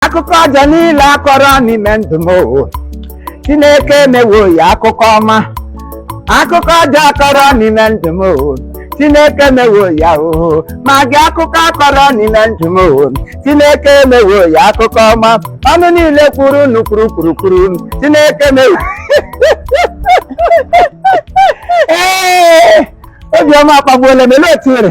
akụkọ ọjọọ niile a kọrọ n'ime ndụ m o chineke emewo ya akụkọ ọma akụkọ ọjọọ a kọrọ n'ime ndụ m o chineke emewo ya o ma gị akụkọ a kọrọ n'ime ndụ m o chineke emewo ya akụkọ ọma ọnụ niile kwuru unu kwuru kwuru kwuru chineke emewo ee obi ọma akpagbuola m ele otu nwere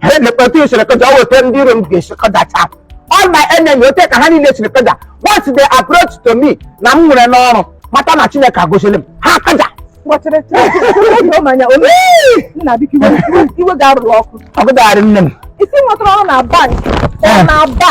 ha elekwa otu i siri kaja ọ wụ ote ndị iro m ga-esi kajacha m all my enemy ote ka ha niile siri kaja once they approach to me na m nwere n'ọrụ mata na chineke agọziela m ha kaja kpọchịrị chịrị manya ome nna biko iwe iwe ga-arụrụ ọkụ ọgụgharị nne m ị sị i nwetara ọrụ na bank Ee. na ba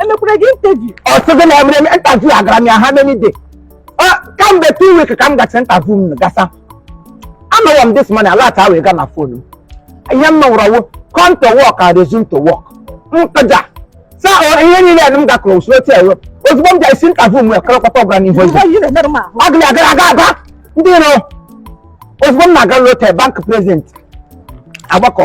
e mekwara gị interview ọ sị gị na e mere m interview agara m ya how many days Ọ, kamgbe two weeks ka m gacha interview m gasa anọrọ m this morning alert ewee gaa na phone m ihe m nụrụ ọ wụ come to work and resume to work m kaja sa ọ, ihe niile m gakọrọ usoro otu ewe ozugbo m gasị interview m ekọrọkọta ọgara n'ihu eze ihe na-emerụ m ahụ agụlị agara aga aga ndị iro ozugbo m na-aga lote bank president agbakọ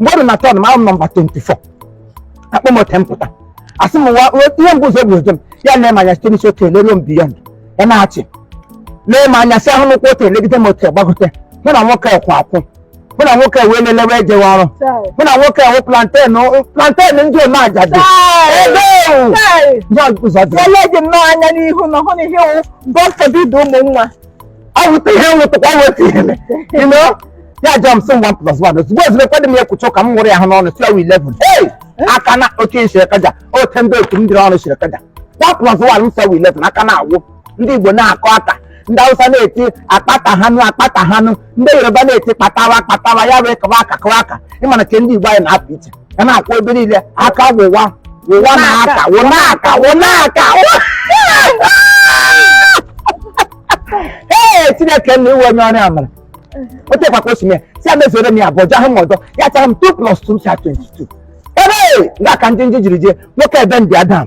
mgbe o ru na turn m awụ m number 24 a kpọọ m ote m pụta a sị m nwa ihe mbụ ụzọ bụ oje m ya na-ele m anya site n'isi otu elelu m beyond ya na-achị na-ele m anya si ahụ n'ụkwụ otu elegide m otu gbagote mụ na nwoke kwụ akwụ mụ na nwoke wee lelewe ejewe ọrụ mụ na nwoke wụ plantain plantain ndị ome ajadu ebe ewu Chai! ya ụzọ dị Ele dị nnọọ anya n'ihu na ọ hụ na ihe wụ God forbid ụmụ nwa. ọ wụta ihe nwụtụkwa weta ihe you know ya jụọ m sị m 1 plus 1 ozugbo ozugbo ekwedị m ya kwuchaa ka m nwụrụ ya ahụ n'ọnụ sị ọ wụ 11 hey aka na oke m siri kaja ote ndị otu m dịrị ọnụ siri kaja 1 plus 1 m sị ọ wụ 11 aka na-awụ ndị igbo na-akụ aka ndị awụsa na-eti akpata hanụ akpata hanụ ndị yoruba na-eti kpatawa kpatawa ya wee kawa aka kawa aka ị ma na nke ndị igbo anyị na-apụ iche ya na-akwụ ebe niile aka wụwa wụwa na aka wụ na aka wụ na aka ee chineke nna ị wụ onye ọrụ amara otekwa ka o si mee sị ya mezuere m ya abụọ jahụ m ọdọ ya chara m 2 plus 2 m sa 22 ebe nga ka ndị ndị jiri jee nwoke ebe ndị adam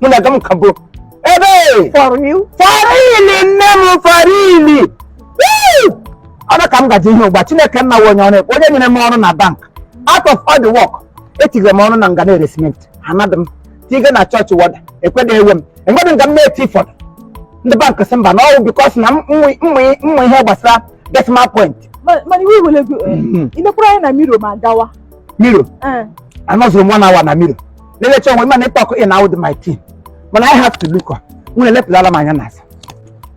mụ na aga m ka bụ ebe farili nne m farili ọrụ ka m gaje ihe ụgbụa chineke nna onye ọrụ onye nyere m ọrụ na bank out of all the work etigere m ọrụ na nga na-ere cement anadị m tiga na church warder ekwedị ewe m enwedị nga m na-eti fọdụ ndị bank sị mba na ọ wụ because na m mụ ihe gbasara decimal point mana iwe wele gị i nekwara anya na mirror ma gawa mirror anọzuru m one hour na mirror na-elecha onwe mana ịtọkụ ị na-awụdị my team mana I have to look up nwere elepụlala m anya n'azụ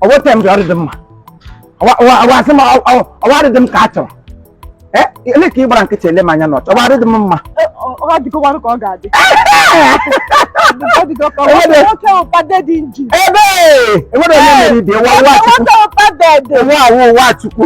ọ wụte m dị ọdịdị mma ọwasị m ọwa adịdị m ka a chọrọ ele ka ị gbara nkịtị ele m anya n'ọchọ ọwa adịdị m mma ebe enwere onye mere ibe nwa Chukwu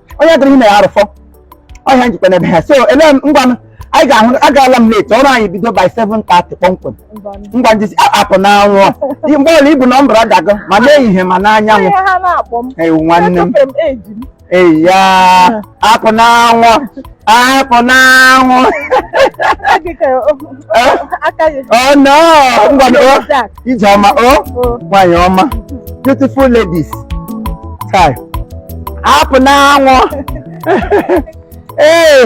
onye gara ime ya arụfọ ọhịa njikwa n'ebe ha so ele ngwanụ anyị ga-ahụ agaala m late ọrụ anyị bido by 7:30 kpọmkwem ngwa ndị apụ n'anwụ mgbe ọla ibu nọmba ọ dago ma n'ehihie ma n'anyanwụ ewu nwanne m eya apụ n'anwụ apụ n'anwụ oh no ngwanụ ije ọma o nwanyị ọma beautiful ladies kai apụ n'anwụ ee